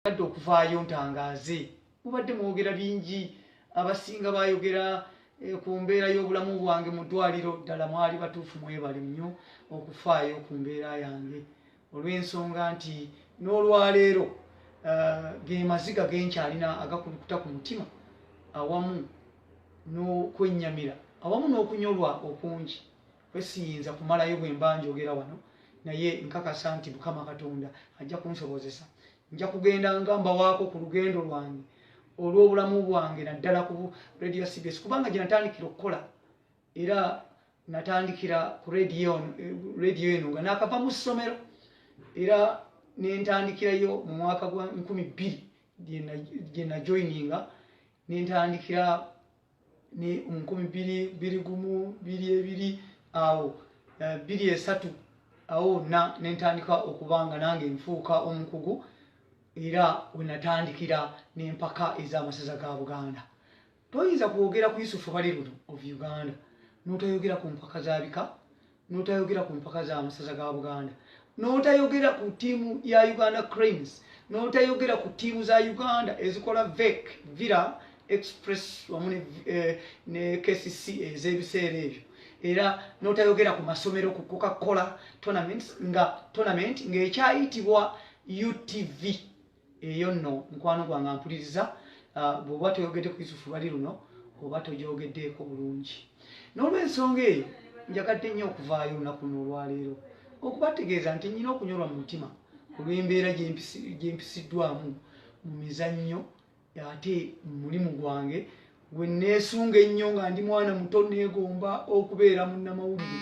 adde okuvaayo ntangaaze mubadde mwogera bingi abasinga bayogera eh, ku mbeera y'obulamu bwange mu ddwaliro ddala mwali batuufu mwebali nnyo okufaayo ku mbeera yange olw'ensonga nti n'olwaleero eh, ge maziga ge nkyalina agakulukuta ku mutima awamu n'okwennyamira awamu n'okunyolwa okungi kwesiyinza kumalayo bwemba njogera wano naye nkakasa nti mukama katonda ajja kunsobozesa nja kugenda nga mbawaako ku lugendo lwange olw'obulamu bwange naddala ku radio cbs kubanga gye natandikira okukola era natandikira ku radio eh, eno nga nakava mu ssomero era nentandikirayo mu mwaka gwa nkumi bbiri gye najoininga nentandikira ne nkumi biri biri gumu biri ebiri awo eh, biri esatu awo na nentandika okuba nga nange nfuuka omukugu era wenatandikira nempaka ez'amasaza ga buganda toyinza kwogera ku yusufu bali luno of uganda notayogera ku mpaka zabika n'otayogera ku mpaka za masaza ga buganda n'otayogera ku ttiimu ya uganda cranes n'otayogera ku ttiimu za uganda ezikola vek villa express wamu ne eh, kcc ez'ebiseera ebyo era n'otayogera ku masomero ku coca cola tournament nga tournament ng'ekyayitibwa utv eyo nno mukwano gwange ampuliriza ah, bwoba toyogedde ku yusufu lwali luno oba togyogeddeeko bulungi n'olwensonga eyo njagadde nnyo okuvaayo olunaku luno olwaleero okubategeeza nti nnyina okunyolwa mu mutima olw'embeera gyempisiddwamu mu mizannyo ate mulimu gwange gwe neesunga ennyo nga ndi mwana muto neegomba okubeera munnamawulire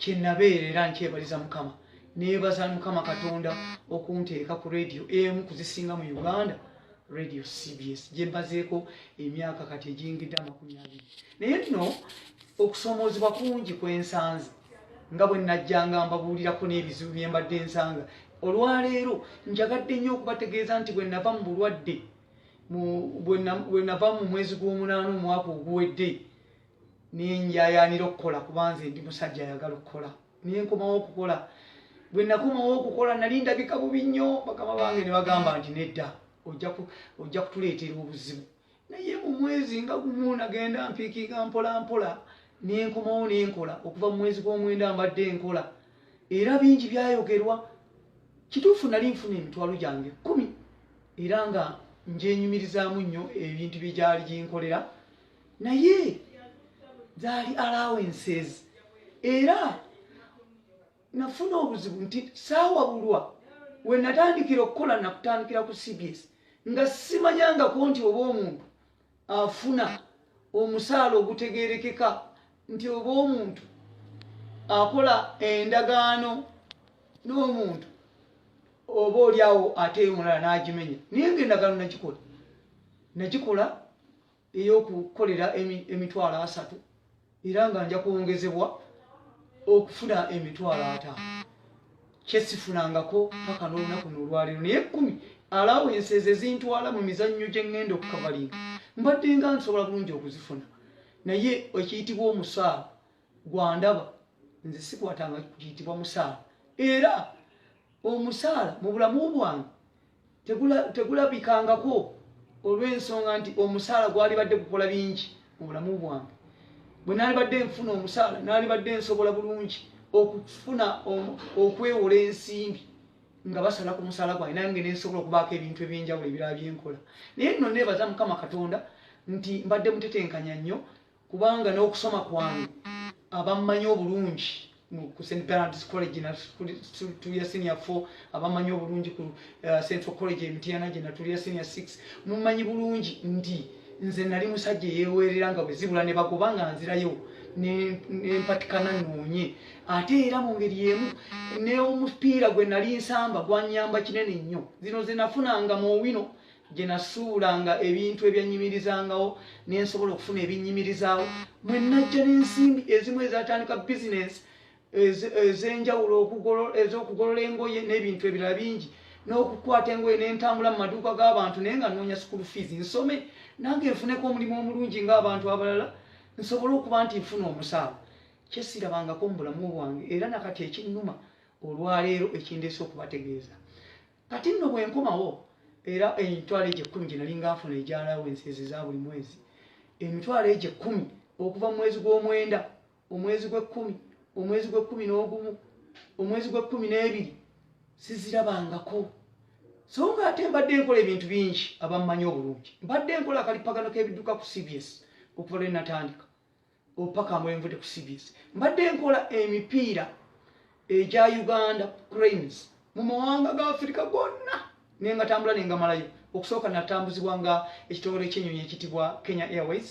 kye nabeera era nkyebaliza mukama neebaza mukama katonda okunteeka ku rediyo emu kuzisinga mu uganda radio cbs gyembazeeko emyaka kati egyingidde amakumi abiri naye nno okusoomoozebwa kungi kwensanze nga bwe najjanga mbabuulirako n'ebizibu byembadde ensanga olwaleero njagadde nnyo okubategeeza nti bwe nava mu bulwadde bwenava mu mwezi gw'omunaana omwaka oguwedde nenjayanira okukola kuba nze ndi musajja ayagala okukola naye nkomawo okukola bwe nakomawo okukola nali ndabika bubi nnyo bakama bange ne bagamba nti nedda ojja kutuleetera obuzibu naye mu mwezi nga gumu nagenda mpiikiga mpola mpola nenkomawo nenkola okuva mu mwezi gw'omwenda mbadde enkola era bingi byayogerwa kituufu nali nfuna emitwalo gyange kumi era nga njenyumirizaamu nnyo ebintu bye gyali ginkolera naye zaali allowances era nafuna obuzibu nti saawabulwa we natandikira okukola nakutandikira ku cbs nga simanyangako nti oba omuntu afuna omusaala ogutegerekeka nti oba omuntu akola endagaano n'omuntu oba olyawo ate omulala n'agimenya naye nga endagaano nagikola nagikola ey'okukolera emitwalo asatu era nga nja kwongezebwa okufuna emitwalo ataano kyesifunangako paka n'olunaku nolwaleero naye ekkumi alawense ze zintwala mu mizannyo gye ŋŋenda okukavalinga mbadde nga nsobola bulungi okuzifuna naye ekiyitibwa omusaala gwandaba nze sikwatanga kiyitibwa musaala era omusaala mu bulamu bwange tegulabikangako olw'ensonga nti omusaala gwalibadde gukola bingi mu bulamu bwange bwe nalibadde nfuna omusaala nalibadde nsobola bulungi okufuna okwewola ensimbi nga basala ku musaala gwange nange nensobola okubaako ebintu ebyenjawulo ebirala byenkola naye nno nebaza mukama katonda nti mbadde mutetenkanya nnyo kubanga n'okusoma kwange abammanyi obulungi ku st bernards college natulya senior four abammanyi obulungi ku uh, central college emitiana gye natulya senior six mummanyi bulungi nti nze nali musajja eyeweerera nga bwe zibula ne bagoba nga nzirayo nempatikana noonye ate era mu ngeri emu neomupiira gwe nali nsamba gwanyamba kinene nnyo zino zenafunanga mu owino gye nasuulanga ebintu ebyannyimirizangawo ne nsobola okufuna ebinnyimirizaawo mwe najja n'ensimbi ezimu ezatandika bizinensi ez'enjawulo ez'okugolola engoye n'ebintu ebirala bingi n'okukwata engoye ne ntambula mu maduuka g'abantu naye nga nnoonya sukulu fiizi nsome nange nfuneko omulimu omulungi ng'abantu abalala nsobole okuba nti nfuna omusaala kyesirabangako mu bulamu bwange era nakati ekinnuma olwaleero ekindeesa okubategeeza kati nno bwe nkomawo era emitwalo egyo ekkumi gye nali nga nfuna egya alawensi ezo eza buli mwezi emitwalo egyo ekkumi okuva mu mwezi gw'omwenda omwezi gw'ekkumi omwezi gw'ekkumi n'ogumu omwezi gw'ekkumi n'ebiri sizirabangako so nga ate mbadde nkola ebintu bingi abammanyi obulungi mbadde nkola akalipagano k'ebidduka ku cbs okuva lwe natandika opaka mwenvude ku cbs mbadde nkola emipiira egya uganda cranes mu mawanga ga afirika gonna naye nga tambula ne ngamalayo okusooka natambuzibwa nga ekitongole ekyenyonyi ekitibwa kenya airways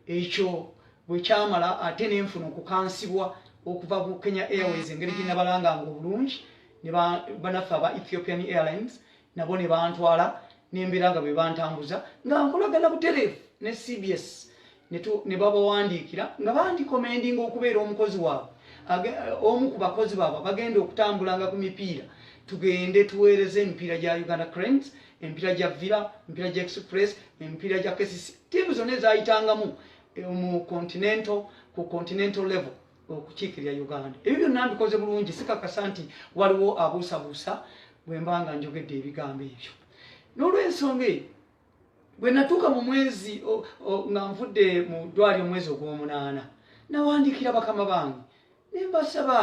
ekyo bwekyamala ate nenfuna okukansibwa okuva ku kenya airways engeri gyenabalanganga obulungi nebanaffe aba ethiopian airlines nabo ne bantwala nembeera nga bebantambuza nga nkolagana butereevu ne cbs ne babawandiikira nga bandikomendinga okubeera omukozi waabwe omu ku bakozi baabwe bagenda okutambulanga ku mipiira tugende tuweereze emipiira gya uganda cranes emipiira gya villa emipiira gya express emipiira gya kcc tiimu zonna ezayitangamu eh, mu continental ku continental level okukiikirira uganda ebyo byonna mbikoze bulungi sikakasa nti waliwo abuusabuusa bwe mba nga njogedde ebigambo ebyo n'olwensonga eyo bwe natuuka mu mwezi nga nvudde mu ddwali omwezi ogw'omunaana nawandiikira bakama bange ne mbasaba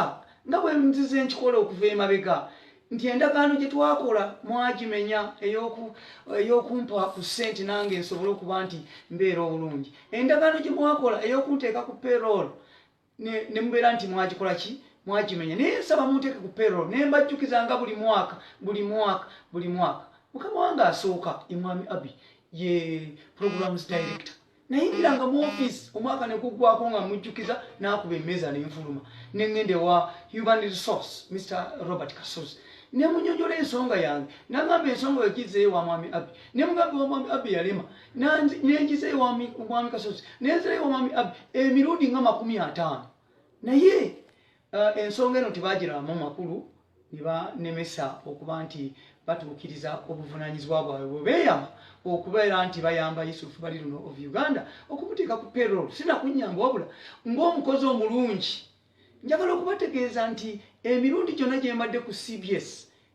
nga bwe nzize nkikola okuva emabega nti endagaano gye twakola mwagimenya ey'okumpa ku ssente nange nsobole okuba nti mbeera obulungi endagaano gye mwakola ey'okunteeka ku perool ne mubeera nti mwagikola ki mwagimenya naye nsaba munteeke ku perool ne mbajjukiza nga buli mwaka buli mwaka buli mwaka mukama wange asooka emwami abi ye programs director nayingiranga mu ofiisi omwaka nekuggwako nga mujjukiza n'akuba emmeeza nenfuluma ne ŋŋenda ewa human resource mr robert kasozi ne munyonyola ensonga yange nagamba ensonga wegizeyo wa mwami abbi ne mugamba wa mwami abbi yalema nengizeyo wa mwami kasozi nenzirayo wa mwami abbi emirundi nga makumi ataano naye Uh, ensonga eno tebagiramu makulu nebanemesa okuba nti batuukiriza obuvunanyizibwa bwabwe bwebeeyama okubeera nti bayamba yusufu bali luno of uganda okumuteeka ku perol sinakunyamba wabula ngaomukozi omulungi njagala okubategeeza nti emirundi gyonna gyembadde ku cbs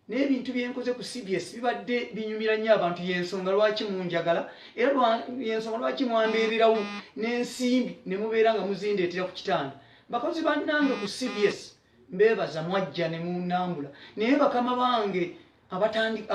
naye ebintu byenkoze ku cbs bibadde binyumira nnyo abantu yensonga lwaki munjagala era yensonga lwaki mwambeererawo n'ensimbi ne mubeera nga muzindeetera ku kitanda bakozi bannange ku cbs mbeebaza mwajja ne munambula naye bakama bange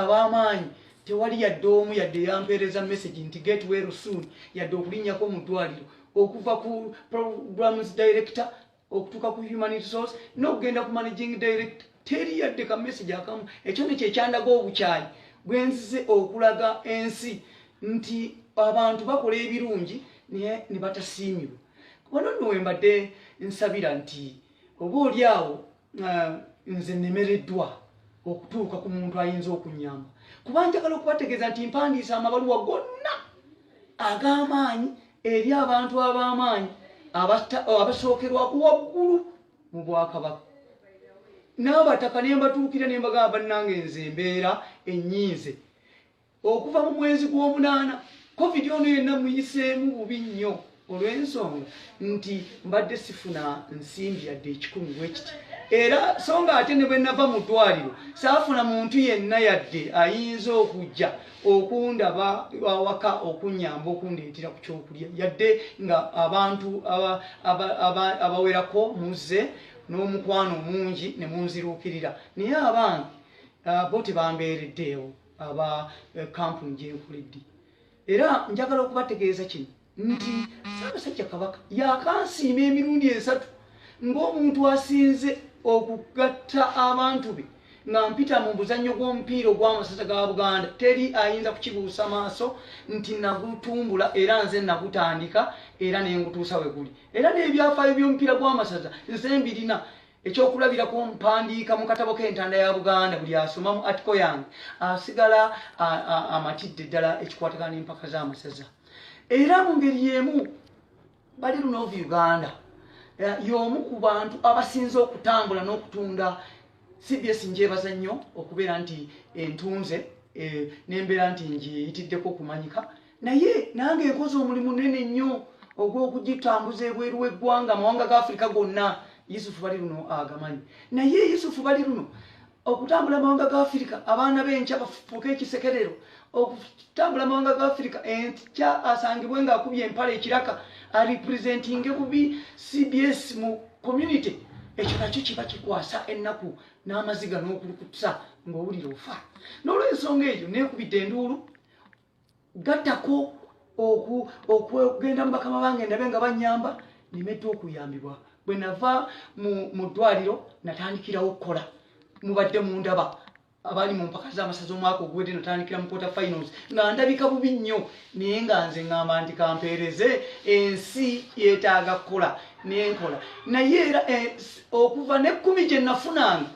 ab'amaanyi tewali yadde omu yadde yampeereza message nti get well soon yadde okulinnyako mu ddwaliro okuva ku programs director okutuuka ku human resource n'okugenda ku managing direct teri yadde ka message akamu ekyo nekyo ekyandaga obukyayi bwenzize okulaga ensi nti abantu bakola ebirungi naye ne batasiimibwa wano nno wembadde nsabira nti oba oli awo uh, nze nemereddwa okutuuka ku muntu ayinza okunyamba kuba njagala okubategeeza nti mpandiisa amabaluwa gonna ag'amaanyi eri abantu ab'amaanyi oh, abasookerwako waggulu mu bwakabaka n'abataka ne mbatuukira ne mbagamba bannange nze embeera ennyinze okuva mu mwezi gw'omunaana covid ono yenna muyiseemu bubi nnyo olw'ensonga nti mbadde sifuna nsimbi yadde ekikumi bwekiti era so nga ate ne bwe nava mu ddwaliro saafuna muntu yenna yadde ayinza okujja okundaba awaka okunyamba okundeetera ku kyokulya yadde nga abantu abawerako muzze n'omukwano mungi ne munziruukirira naye abange ah, bo tebambeereddeewo aba eh, kampuni gyenkulidde era njagala okubategeeza kino nti Ssaabasajja Kabaka yakansiima emirundi esatu ng'omuntu asinze okugatta abantu be nga mpita mu buzannyo gw'omupiira ogw'amasaza ga Buganda teri ayinza kukibuusa maaso nti nagutumbula era nze nagutandika era ne ngutuusa we guli era n'ebyafaayo by'omupiira gw'amasaza nze mbirina ekyokulabirako mpandiika mu katabo k'entanda ya buganda buli asoma mu atiko yange asigala amatidde ddala ekikwatagana n'empaka z'amasaza era mu ngeri y'emu bali luno ova uganda eh, y'omu ku bantu abasinze okutambula n'okutunda cbs njebaza nnyo okubeera nti entunze eh, nembeera nti ngiyitiddeko okumanyika naye nange enkozi omulimu nene nnyo ogw'okugitambuza ebweru w'eggwanga amawanga ga afirika gonna yusufu bali luno agamanyi naye yusufu bali luno okutambula amawanga ga afirika abaana b'enkya bafuuke ekisekerero okutambula amawanga ga afirika enkya asangibwe ng'akubye empala ekiraka aripresentinge bubi cbs mu community ekyo nakyo kiba kikwasa ennaku n'amaziga n'okulukutusa ng'owulira ofa n'olwensonga eyo neekubidde enduulu gattako okugenda mu bakama bange ndabe nga banyamba nimedda okuyambibwa bwe nava mu ddwaliro natandikirawo okukola mubadde mundaba abaali mu mpaka z'amasaza omwaka oguwedde natandikira mu quarter finals nga ndabika bubi nnyo naye nga nze ngamba nti kampeereze ensi yetaaga kukola nenkola naye era eh, okuva nekkumi gye nafunanga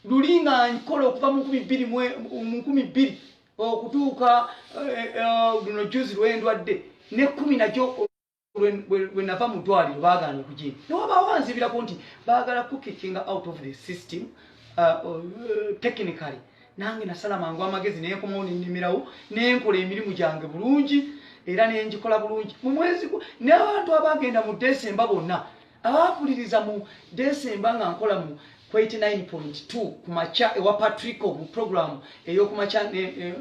luli nga nkola okuva mu nkumi bbiri okutuuka luno juzi lwendwadde nekkumi nakyo bwenava mu ddwaliro baagaana okugina newabaawo anzibirako nti baagala kukikinga out of the system uh, uh, technically nange nasala mangu amagezi nenkomawo nenimirawo nenkola emirimu gyange bulungi era nengikola bulungi mumwezi nabantu abagenda mu desemba bonna abampuliriza mu desemba nga nkola mu 89.2 ku makya ewa patrico mu programu ey'oku makya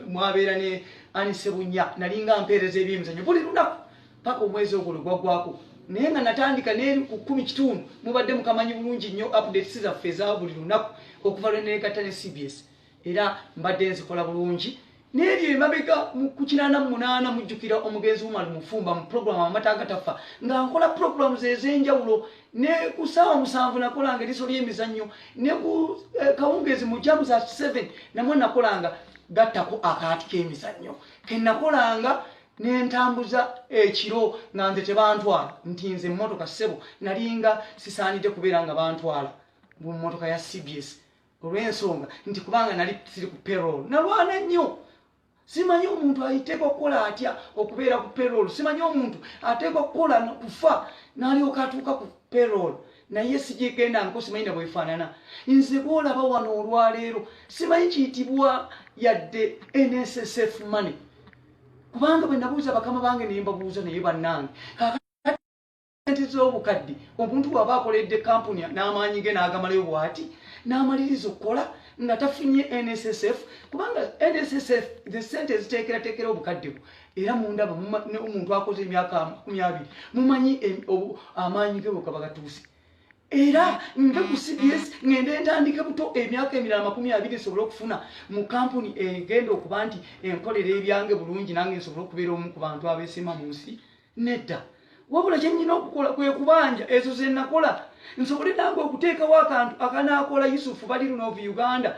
mwabeera ne anisebunya nalinga mpeereza ebyemizanyo buli lunaku paka omwezi ogwo lwegwaggwako naye nga natandika neri ku kumi kitundu mubadde mukamanyi bulungi nnyo updates zaffe eza buli lunaku okuva lwe neegatta ne cbs era mbadde nzikola bulungi n'ebyo emabega ku kinaana mu munaana mujjukira omugenzi umar mufumba mu pulogulaamu amata agatafa nga nkola pulogulaamu ze ez'enjawulo ne ku ssaawa musanvu nakolanga eriiso ly'emizannyo ne ku eh, kawungeezi mu jamu za seven namwe nakolanga gattako akaati k'emizannyo ke nakolanga nentambuza ekiro nga nze tebantwala nti nze emmotoka ssebo nalinga sisaanidde kubeera nga bantwala mu mmotoka ya cbs olw'ensonga nti kubanga nali siri ku perol nalwana nnyo simanyi omuntu ayiteeka okukola atya okubeera ku perol simanyi omuntu ateeka okukola kufa nalyoka atuuka ku perol naye sigyegenda nko simanyi na bwefaanana nze bwolaba wano olwaleero simanyi kiyitibwa yadde nssf money kubanga bwe nabuuza bakama bange nembabuuza naye bannange sente z'obukadde omuntu waba akoledde kampuni n'amaanyi ge n'agamalayo bwati n'amaliriza okukola nga tafunye nssf kubanga nssf the sente eziteekerateekera obukadde bwo era mundaba omuntu akoze emyaka makumi abiri mumanyi amaanyi ge bwekaba gatuuse era nve ku cbs ngende ntandike buto emyaka emirala makumi abiri nsobole okufuna mu kampuni egenda okuba nti enkolera ebyange bulungi nange nsobole okubeera omu ku bantu abeesima mu nsi nedda wabula kyenyina okukola kwekubanja ezo zenakola nsobole nange okuteekawo akantu akanaakola yusufu bali luno of uganda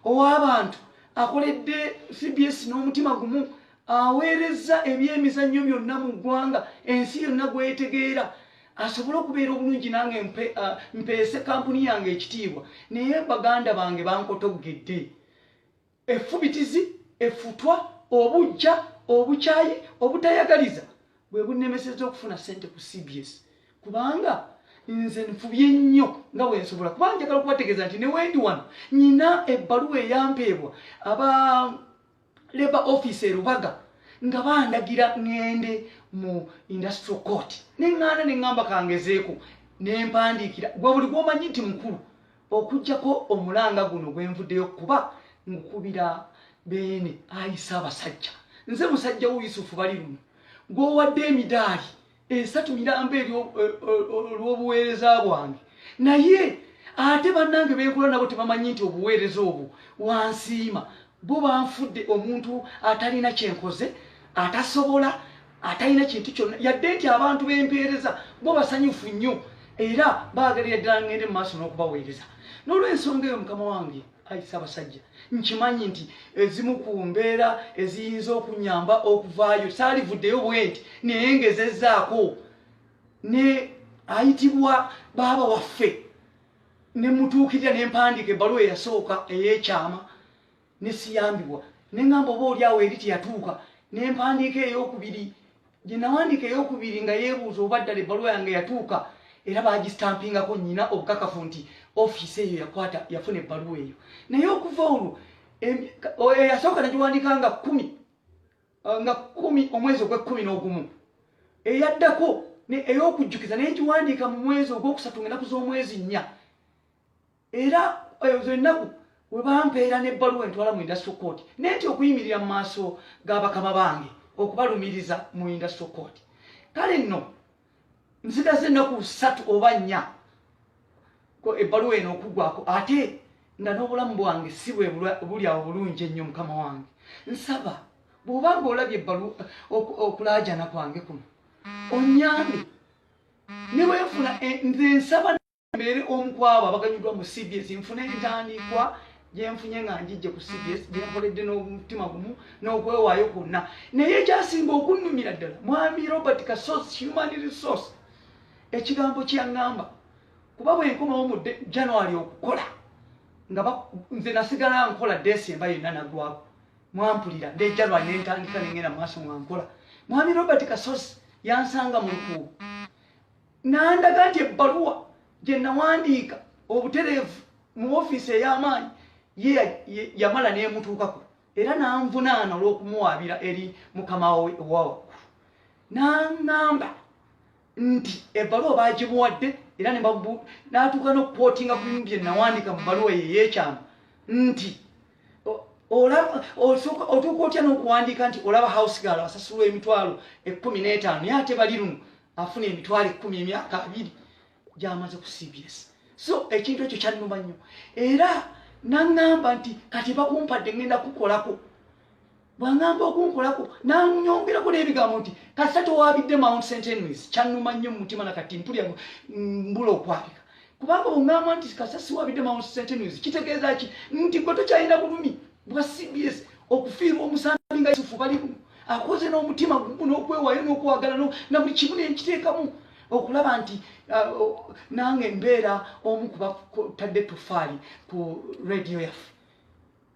ow'abantu akoledde cbs n'omutima gumu aweereza ebyemizannyo byonna mu ggwanga ensi yonna gwetegeera asobole okubeera obulungi nange mpeese kampuni yange ekitiibwa naye baganda bange bankotoggedde Effubitizi, effutwa, obujja, obukyayi, obutayagaliza bwe bunnemesezza okufuna ssente ku cbs kubanga nze nfubye nnyo nga bwe nsobola kuba njagala okubategeeza nti ne wendi wano nyina ebbaluwa eyampeebwa aba labour office erubaga nga bandagira ŋŋende mu industrial court ne ŋŋaana ne ŋŋamba kangezeeko ne mpandiikira gwe buli gwomanyi nti mukulu Okujjako omulanga guno gwenvudeyo kuba ngukubira beene ayisa abasajja nze musajja wo Yusufu bali luno gwowadde emidaali esatu miramba eri olwobuweereza bwange naye ate banange benkula nabo tebamanyi nti obuweereza obwo wansiima Bo banfudde omuntu atalina kyenkoze atasobola atalina kintu kyonna yadde nti abantu bempeereza bo basanyufu nnyo era baagalira ddala ngende mu maaso n'okubaweereza n'olwensonga eyo mukama wange ayisa abasajja nkimanyi nti ezimu ku mbeera eziyinza okunyamba okuvaayo saalivuddeyo bwenti naye ngezezaako ne ayitibwa baaba waffe ne mutuukirira ne mpandiika ebbaluwa eyasooka ey'ekyama ne siyambibwa ne ŋŋamba oba oli awo eri teyatuuka ne mpandiika ey'okubiri gye nawandiika ey'okubiri nga yeebuuza oba ddala ebbaluwa yange yatuuka era baagistaampingako nnyina obukakafu nti ofiisi eyo yakwata yafuna ebbaluwa eyo naye okuva olwo eyasooka nagiwandiika nga kkumi uh, nga kumi omwezi ogwekkumi n'ogumu eyaddako ey'okujjukiza naye ngiwandiika mu mwezi ogwokusatu nga enaku z'omwezi nnya era eh, ezo ennaku we bampeera n'ebbaluwa entwala mu industry court naye nti okuyimirira mu maaso g'abakama bange okubalumiriza mu industry court kale nno nsigaze ennaku ssatu oba nnya ebbaluwa eno okugwako ate nga n'obulamu bwange si bwe buli awo bulungi ennyo mukama wange nsaba bw'oba nga olabye ebbalu okulaajana kwange kuno onyambe ne bwenfuna eh, nze nsaba mbeere omu kwabo abaganyuddwa mu cbs nfuna entandikwa gyenfunye nga njijje ku cbs gyenkoledde n'omutima gumu n'okwewaayo kwonna naye ekyasinga okunnumira ddala mwami robert kasos human resource ekigambo kyeyaŋŋamba kuba bwenkomawo mu january okukola nga nze nasigala nkola desemba yonna nagwako mwampulira ne january nentandika nengenda mu maaso mwankola mwami robert kasos yansanga mu lukuubo n'andaga nti ebbaluwa gye nawandiika obutereevu mu ofiisi ey'amaanyi ye yamala n'emutuukako era n'anvunaana olw'okumuwaabira eri mukama we owa waggulu n'aŋŋamba nti ebbaluwa baagimuwadde era n'atuuka n'okukwotinga ku bimu bye nawandiika mu bbaluwa ye ey'ekyama nti otuuka otya n'okuwandiika nti olaba house gaal asasulwa emitwalo ekkumi n'etaano ye ate bali luno afuna emitwalo ekkumi emyaka abiri gyamaze ku cbs so ekintu ekyo kyannuma nnyo era naŋŋamba nti kati bakumpadde ŋŋenda kukolako bwaŋŋamba okunkolako nanyongerako n'ebigambo nti kasita towabidde mount st henrys kyannuma nnyo mu mutima na kati mpulya mbula okwabika kubanga bweŋŋamba nti kasita siwabidde mount st henrys kitegeeza ki nti gwe tokyalina bulumi bwa cbs okufiirwa omusambi nga yusufu balimu akoze n'omutima gumu n'okwewayo n'okwagala na buli kimu nenkiteekamu okulaba nti uh, nange mbeera omu kubatadde tofaali ku radiyo yaffe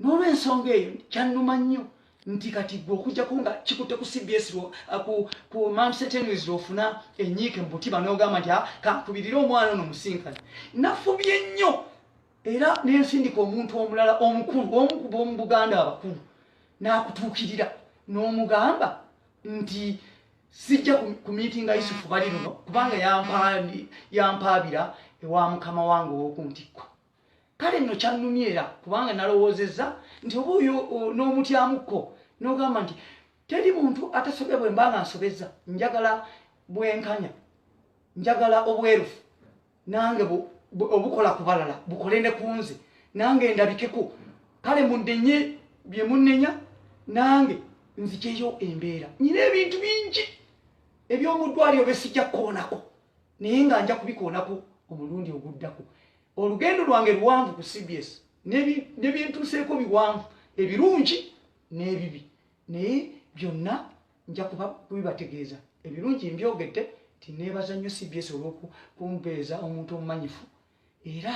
n'olwensonga eyo kyannuma nnyo nti kati gwe okujjako nga kikutte ku cbs uh, ku mamsetenwis lwofuna enyiike mu mutima n'ogamba nti ah, kakubirire omwana ono musinkana nafubye nnyo era nensindika omuntu omulala omukulu omu ku b'omu buganda abakulu n'akutuukirira n'omugamba nti sijja ku miitinga yusufu bali luno kubanga yampaabira ewa mukama wange ow'oku ntikko kale nno kyannumya era kubanga nalowoozezza nti oba oyo n'omutyamukko n'ogamba nti teri muntu atasobya bwe mba nga nsobezza njagala bwenkanya njagala obwerufu nange obukola ku balala bukole ne ku nze nange ndabikeko kale munenye bye munenya nange nzijeyo embeera nyina ebintu bingi ebyomuddwaliro besijja kukoonako naye nga nja kubikoonako omulundi oguddako olugendo lwange luwanvu ku cbs nebintuuseeko biwanvu ebirungi n'ebibi naye byonna nja kuba kubibategeeza ebirungi mbyogedde tineebaza nnyo cbs olwokumpeeza omuntu omumanyifu era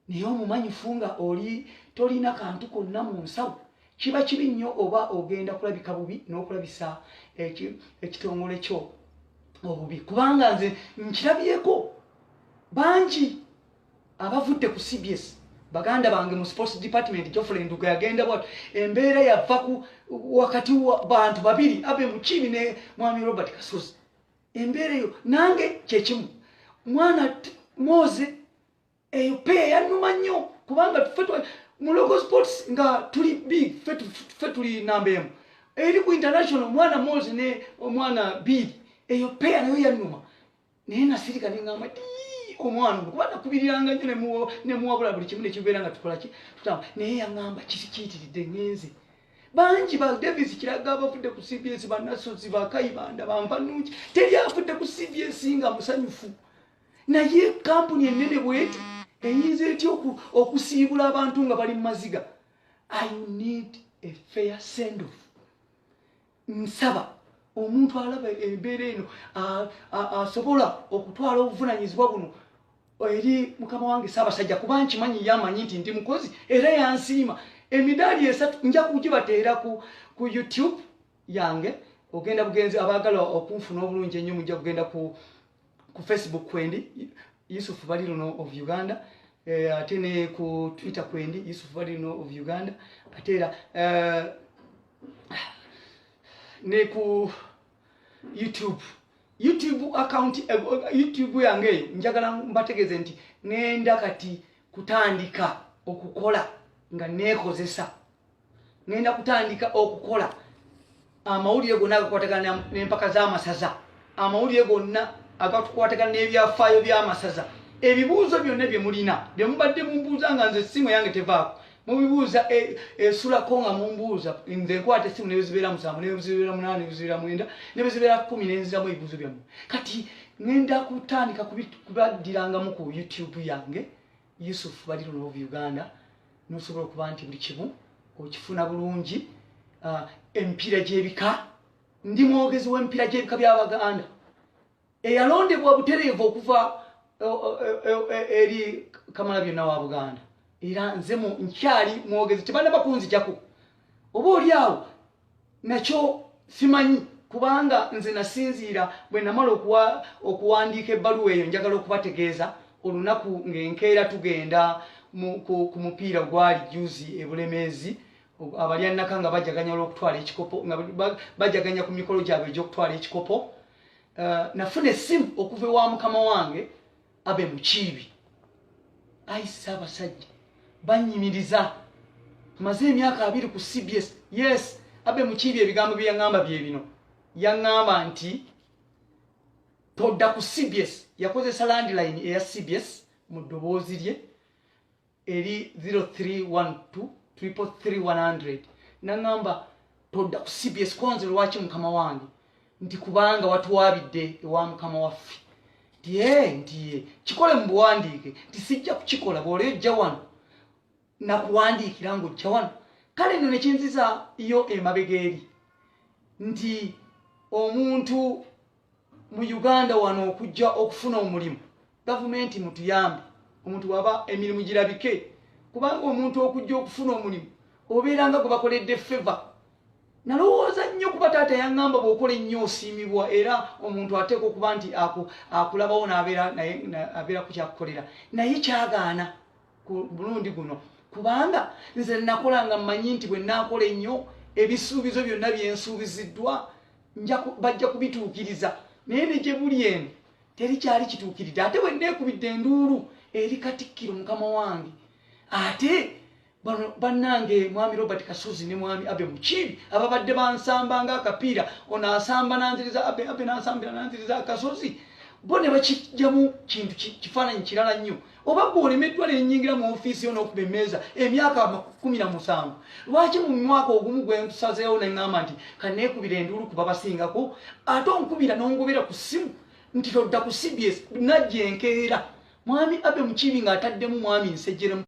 naye omumanyifu nga oli tolina kantu konna mu nsawo kiba kibi nnyo oba ogenda kulabika bubi n'okulabisa ekitongole kyo obubi kubanga nze nkirabyeko bangi abavudde ku cbs baganda bange mu sports department jofule nduga yagenda bwat embeera yava ku wakati bantu babiri abe mukibi ne mwami robert kasozi embeera eyo nange kyekimu mwana moze eyo pe yanuma nnyo kubanga fe mu local sports nga tuli big fe tuli namba emu eri ku international mwana moze ne omwana big eyo pe nayo yanuma naye nasirika nengamba omwana kuba nakubiriranga nyo nemuwabula buli kimu nekibeera nga tukolaki tutamba naye yangamba kisi kiyitiridde ngenze bangi ba davis kiraga abavudde ku cbs banasozi bakayibanda bampanungi teri avudde ku cbs nga musanyufu naye kampuni enene bweti eyinza etya okusiibula abantu nga bali mu maziga i need a fair sendoff nsaba omuntu alaba embeera eno asobola okutwala obuvunanyizibwa buno eri mukama wange saabasajja kuba nkimanyi yamanyi nti ndi mukozi era yansiima emidaali esatu nja kugibateera ku youtube yange ogenda bugenzi abaagala okunfuna obulungi ennyo mujja kugenda ku ku facebook kwendi yusuf balirino of uganda eh, ate ne ku twitter kwendi yusuf balirino of uganda ate era eh, ne ku youtube youtube account eh, youtube yange eyo njagala mbategeeze nti ngenda kati kutandika okukola nga neekozesa ngenda kutandika okukola amawulire gonna agakwatagana n'empaka z'amasaza amawulire gonna agatukwatagana n'ebyafaayo by'amasaza ebibuuzo byonna bye mulina bye mubadde mumbuuza nga nze essimu eyange tevaako mubibuuza e, esulako nga mumbuuza nze nkwata essimu nebezibeera musanvu nebezibeera munaana nebezibeera mwenda nebezibeera kumi nenziramu ebibuuzo byammwe kati ngenda kutandika kubaddirangamu ku youtube yange Yusuf bali luno of Uganda nosobola okuba nti buli kimu okifuna bulungi uh, empiira gy'ebika ndi mwogezi w'empiira gy'ebika by'Abaganda eyalondebwa butereevu okuva eri kamala byonna wa Buganda era nze nkyali mwogezi tebanaba kunzijako oba oli awo nakyo simanyi kubanga nze nasinziira bwe namala okuwandiika ebbaluwa eyo njagala okubategeeza olunaku ng'enkeera tugenda ku mupiira gwali juzi ebulemeezi abalya nnaka nga bajaganya olwokutwala ekikopo nga bajaganya ku mikolo gyabwe egyokutwala ekikopo eh, nafuna essimu okuva ewa mukama wange abe mukiibi ayi ssaabasajja banyimiriza maze emyaka abiri ku cbs yes abe mukiibi ebigambo bye yaŋŋamba bye bino yaŋŋamba nti todda ku cbs yakozesa landline eya cbs mu ddoboozi lye eri 031233 naŋamba todda ku cbs kwanze lwaki mukama wange nti kubanga watwabidde ewa mukama waffe nti ee nti ye kikole mu buwandiike nti sijja kukikola bwoleo ojja wano nakuwandiikira nga ojja wano kale no nekinziza yo emabega eri nti omuntu mu uganda wano okujja okufuna omulimu gavumenti mutuyambe omuntu waba emirimu girabike kubanga omuntu okujja okufuna omulimu obeera nga gwe bakoledde feva nalowooza nnyo kuba taata yaŋŋamba bw'okola ennyo osiimibwa era omuntu ateeka okuba nti akulabawo nabeera ku kyakukolera naye kyagaana ku mulundi guno kubanga nze nakola nga mmanyi nti bwe naakola ennyo ebisuubizo byonna byensuubiziddwa bajja kubituukiriza naye ne gye buli eno teri kyali kituukiridde ate bwe nneekubidde enduulu eri katikkiro mukama wange ate bannange mwami robert kasozi ne mwami abe mukiibi ababadde bansamba nga akapiira ono asamba nanziriza abe abe nansambira nanziriza akasozi bo ne bakijjamu kintu kifaananyi kirala nnyo oba gwe olemeddwa nenyingira mu ofiisi yo n'okuba emmeeza emyaka kumi na musanvu lwaki mu mwaka ogumu gwe nkusazeewo ne ŋŋamba nti kaneekubira enduulu kuba basingako ate onkubira n'ongobera ku ssimu nti todda ku cbs najja enkeera mwami abe mukiibi ng'ataddemu mwami nsejjeremu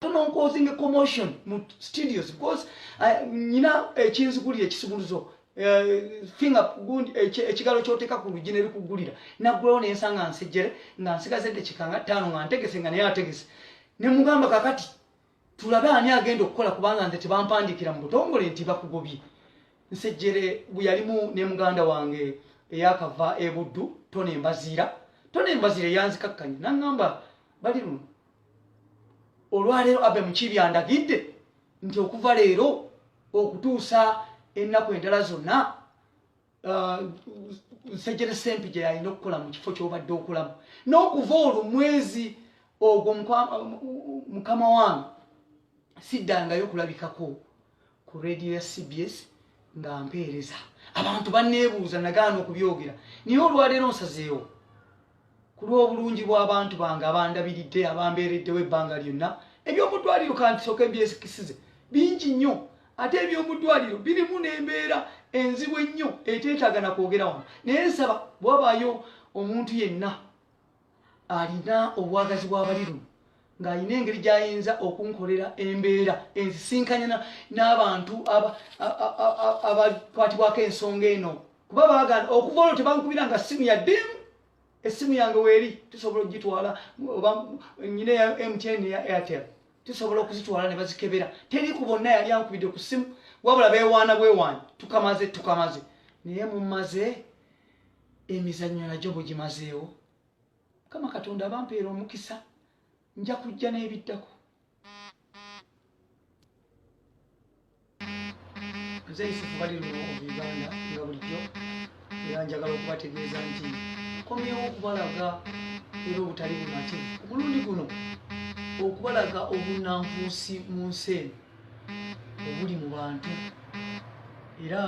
non causing a commotion mu studios because uh, nyina ekinzikuli uh, ekisumuluzo uh, finger gund ekigalo uh, kyoteka ku lujine likugulira nagwewo nensanga nsejere nga nsigaze dekikanga tano nga ntegese nga naye ategese ne mugamba kakati tulabe ani agenda okukola kubanga nze tebampandikira mu butongole nti bakugobye nsejere buyalimu ne muganda wange eyakava ebuddu tone mbaziira tone mbaziira yanzikakkanya nangamba bali luno olwaleero abe mukiibi andagidde nti okuva leero okutuusa ennaku endala zonna uh, nsejjere sempi gye yalina okukola mu kifo ky'obadde okulamu n'okuva olwo mwezi ogwo mukama wange siddangayo kulabikako ku radio ya cbs nga mpeereza abantu banneebuuza nagaana okubyogera naye olwaleero nsazeewo ku lw'obulungi bw'abantu bange abandabiridde abambeereddewo ebbanga lyonna eby'omudwaliro kantisooka ebyekisize bingi nnyo ate eby'omudwaliro birimu n'embeera enzibu ennyo eteetaaga na kwogera wano naye nsaba bwabaayo omuntu yenna alina obwagazi bw'abali luno ng'alina engeri gy'ayinza okunkolera embeera enzisinkanya n'abantu abakwatibwako ensonga eno kuba baagala okuva olwo tebankubira nga ssimu ya ddimu essimu yange weeri tusobola okugitwala oba nyina ya mtn eya airtel tusobola okuzitwala ne bazikebera teri ku bonna yali ankubidde ku ssimu wabula beewaana bwewaani tukamaze tukamaze naye mumaze emizannyo nagyo bugimazeewo mukama katonda abampeera omukisa nja kujja n'ebiddako nze yusufu bali luno uganda nga bulijjo era njagala okubategeeza nti komyewo okubalaga era obutali bunate omulundi guno okubalaga obunanfuusi mu nsi eno obuli mu bantu era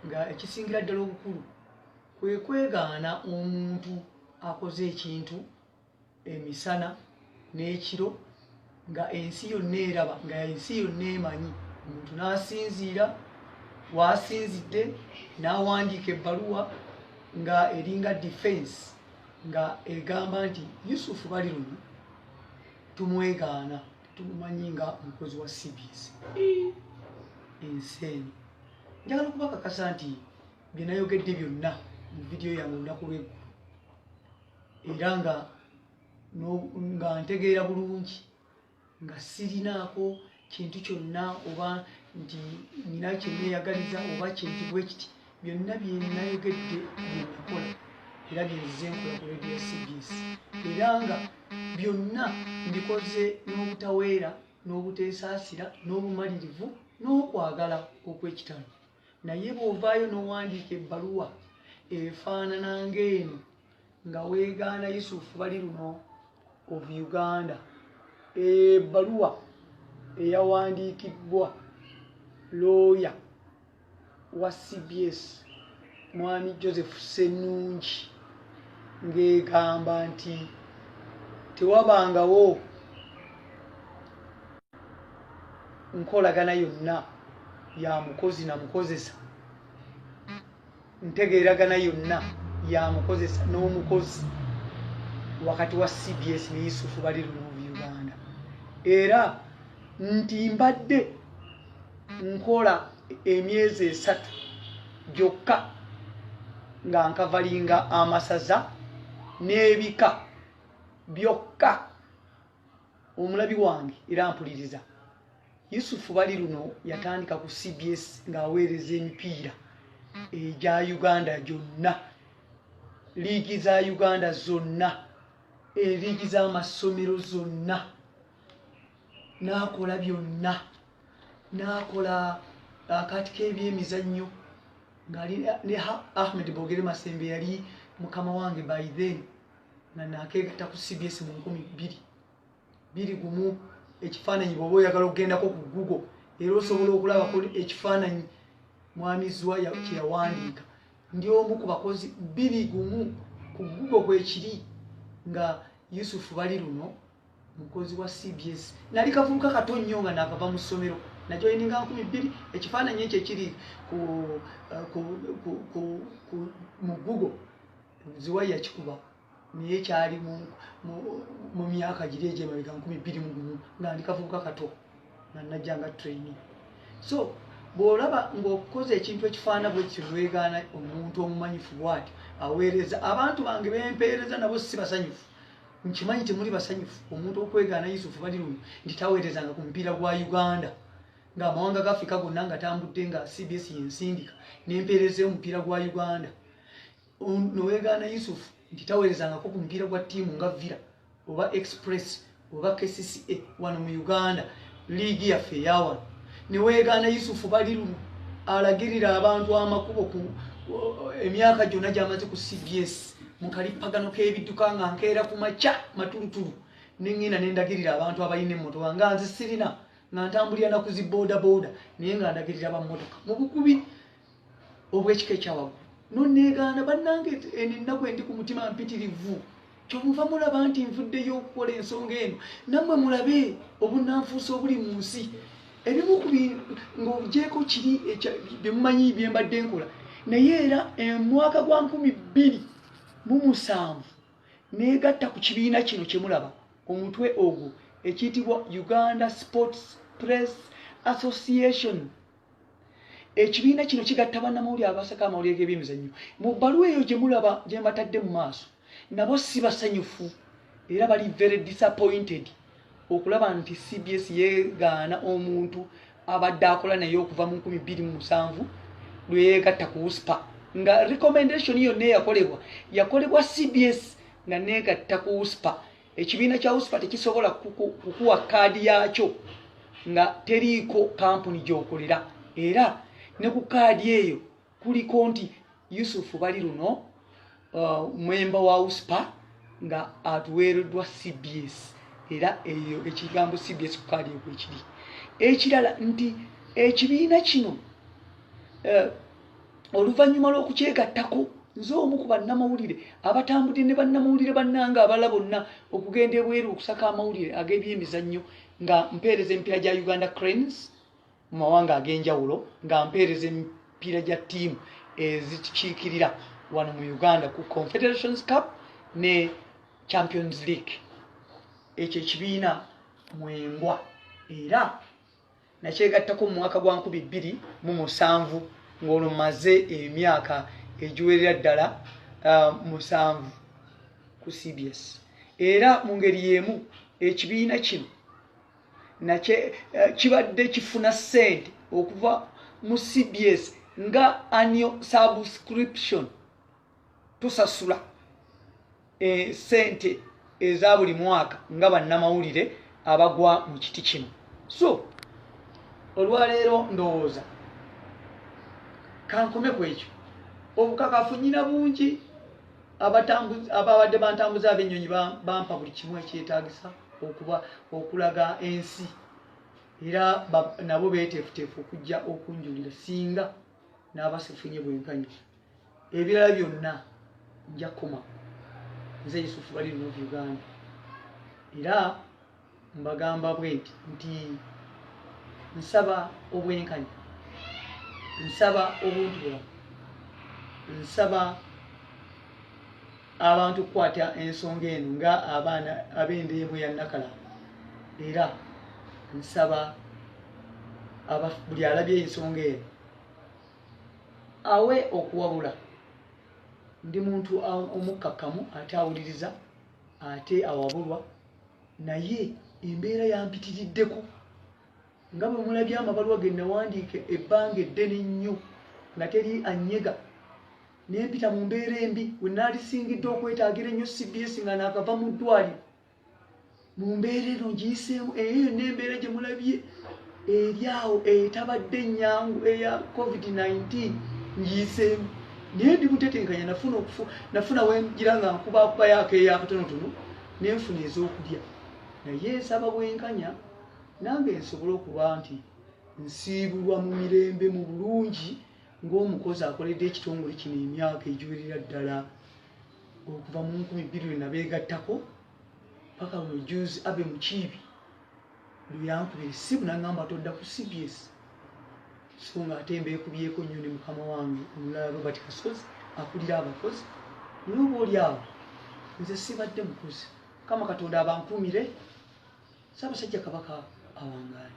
nga ekisingira ddala obukulu kwe kwegaana omuntu akoze ekintu emisana n'ekiro nga ensi yonna eraba nga ensi yonna emanyi omuntu n'asinziira waasinzidde n'awandiika ebbaluwa nga eringa defense nga egamba nti yusufu bali luno tumwegaana tumumanyi nga omukozi wa cbs ensi eno njagala okubakakasa nti bye nayogedde byonna mu vidiyo yange olunaku lweggulu era nga nga ntegeera bulungi nga sirinaako kintu kyonna oba nti nina kyeneyagaliza oba kintu bwe kiti byonna byenayogedde byenakola era byenzize nkola ku radio cbs era nga byonna mbikoze n'obutaweera n'obuteesaasira n'obumalirivu n'okwagala okw'ekitalo naye bwovaayo nowandiika ebbaluwa efaanana ngaeno nga wegaana yusufu bali luno of uganda ebbaluwa eyawandiikibbwa looya wa cbs mwami joseph senungi ng'egamba nti tewabangawo nkolagana yonna ya mukozi na mukozesa ntegeeragana yonna ya mukozesa n'omukozi wakati wa cbs ne yusufu bali lunuubi uganda era nti mbadde nkola emyezi esatu gyokka nga nkavalinga amasaza n'ebika byokka omulabi wange era mpuliriza yusufu bali luno yatandika ku cbs ng'aweereza emipiira egya uganda gyonna liigi za uganda zonna eliigi z'amassomero zonna n'akola byonna n'akola akaati k'ebyemizannyo ngali ne ahmed bogere masembe yali mukama wange by then nga nakeegata ku cbs mu nkumi bbiri biri gumu ekifaananyi bwoba oyagala okugendako ku google era osobola okulabako ekifaananyi mwami zwa kyeyawandiika ndi omu ku bakozi biri gumu ku google kwekiri nga yusufu bali luno mukozi wa cbs nali kavubuka kato nnyo nga nakava mu ssomero najoyininga nkumi bbiri ekifaananyi ekyo ekiri eh, mu google ziwa yakikuba naye kyali mu myaka giri egyemabega nkumi bbiri mu gumu nga ndi kavubuka kato nga najja nga traini so bw'olaba ng'okukoza ekintu ekifaana bwe kityo newegaana omuntu omumanyifu bwati aweereza abantu bange bempeereza nabo si basanyufu nkimanyi temuli basanyufu omuntu okwegaana yusufu bali luno nti taweerezanga ku mupiira gwa uganda ng'amawanga ga afrika gonna nga tambudde nga cbs yensindika nempeereza omupiira gwa uganda nowegaana yusufu nti taweerezangako ku mupiira gwa ttiimu nga villa oba express oba kcca wano mu uganda liigi yaffe eyawano newegaana yusufu bali lumu alagirira abantu amakubo ku emyaka gyonna gyamaze ku cbs mu kalippagano k'ebidduka nga nkeera ku makya matulutulu nengenda nendagirira abantu abalina emmotoka nga nze sirina nga ntambulira nakuzi boda boda naye nga ndagirira bammotoka mubukubi obwekika ekyawaggulu noneegaana bannange eno ennaku endi ku mutima mpitirivu kyomuva mulaba nti nvuddeyo okukola ensonga eno nammwe mulabe obunanfuusi obuli mu nsi ebimu ku ng'ogyeko kiri byemumanyi byembadde nkola naye era omwaka gwa nkumi bbiri mu musanvu negatta ku kibiina kino kyemulaba omutwe ogwo ekiyitibwa uganda sports press association ekibiina kino kigatta bannamawulire abasaka amawulire g'ebyemizannyo mu bbaluwa eyo gye mulaba gye mbatadde mu maaso nabo si basanyufu era bali very disappointed okulaba nti cbs yegaana omuntu abadde akola naye okuva mu 2 lweyegatta ku uspa nga recommendation yonna eyakolebwa yakolebwa cbs nga negatta ku uspa ekibiina kya usipa tekisobola kukuwa kaadi yaakyo nga teriiko kampuni gyokolera era ne ku kaadi eyo kuliko nti yusufu bali luno uh, mwemba wa usipa nga atuweereddwa cbs era eyo ekigambo cbs ku kaadi eyo kwekiri ekirala nti ekibiina kino uh, oluvannyuma lw'okukyegattako nze omu ku bannamawulire abatambudde ne bannamawulire bannanga abala bonna okugenda ebweru okusaka amawulire ag'ebyemizannyo nga mpeereza emipiira gya uganda cranes mu mawanga ag'enjawulo nga mpeereza emipiira gya ttiimu ezikiikirira wano mu uganda ku confederations cup ne champions league ekyo ekibiina mwembwa era Nakyegattako mu mwaka gwa nkumi bbiri mu musanvu ng'olwo mmaze emyaka egiwerera ddala uh, musanvu ku CBS era mu ngeri y'emu ekibiina kino nakye uh, kibadde kifuna ssente okuva mu CBS nga annual subscription tusasula eh, sente eza buli mwaka nga bannamawulire abagwa mu kiti kino so olwaleero ndowooza kankome ku ekyo obukakafu nyina bungi ababadde bantambuza abennyonyi bampa buli kimu ekyetagisa okuba okulaga ensi era nabo beteefuteefu okujja okunjulira singa n'abasifunye bwenkanyisa ebirala byonna nja kukoma nze yusufu bali no uganda era mbagamba bwenti nti nsaba obwenkanya nsaba obuntu bulamu nsaba abantu okukwata ensonga eno nga abaana ab'endeemu ya nakala era nsaba buli alabye ensonga eno awe okuwabula ndi muntu omukkakkamu ate awuliriza ate awabulwa naye embeera yampitiriddeko nga bwe mulabye amabaluwa ge nawandiika ebbanga eddene nnyo nga teri anyega nempita mu mbeera embi we naalisingiddwa okwetaagira ennyo cbs nga naakava mu ddwaliro mu mbeera eno ngiyiseemu eyo yonna embeera gye mulabye eri awo etabadde ennyangu eya covid-19 ngiyiseemu naye ndi mutetenkanya nafuna okufu nafuna wengira nga nkubakubayo akeeyo akatonotono ne nfuna ez'okulya naye nsaba bwenkanya nange nsobole okuba nti nsiibulwa mu mirembe mu bulungi ng'omukozi akoledde ekitongole kino emyaka egiwerera ddala okuva mu nkumi bbiri lwe nabeegattako paka lwe juzi abe mukiibi lwe yankubira essimu nangamba todda ku cbs so nga ate mbeekubyeko nnyo ne mukama wange omulala robert kasozi akulira abakozi noba oli awo nze sibadde mukozi kama katonda abankuumire saabasajja kabaka awangaale